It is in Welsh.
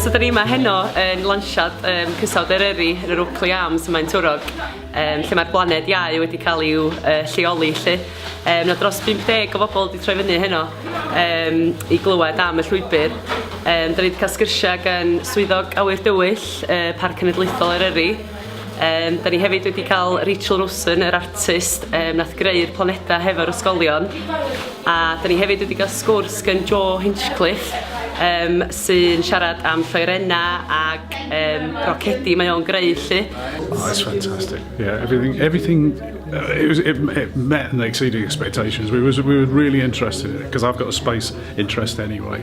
So da ni yma heno yn lansiad um, cysawd Eryri yn yr Oakley Arms yma yn Twrog, um, lle mae'r blaned iau wedi cael i'w uh, lleoli lle. Um, na dros 50 o bobl wedi troi fyny heno um, i glywed am y llwybr. Um, da ni wedi cael sgyrsiau gan swyddog awyr dywyll uh, Parc Cenedlaethol Eryri, Um, da ni hefyd wedi cael Rachel Rosen, yr artist, um, nath greu'r planedau hefo'r ysgolion. A da ni hefyd wedi cael sgwrs gan Joe Hinchcliffe, um, sy'n siarad am lloerenna ac um, rocedi mae o'n greu lly. Oh, that's fantastic. Yeah, everything, everything uh, it, was, it, it met and exceeded expectations. We, was, we were really interested in it because I've got a space interest anyway.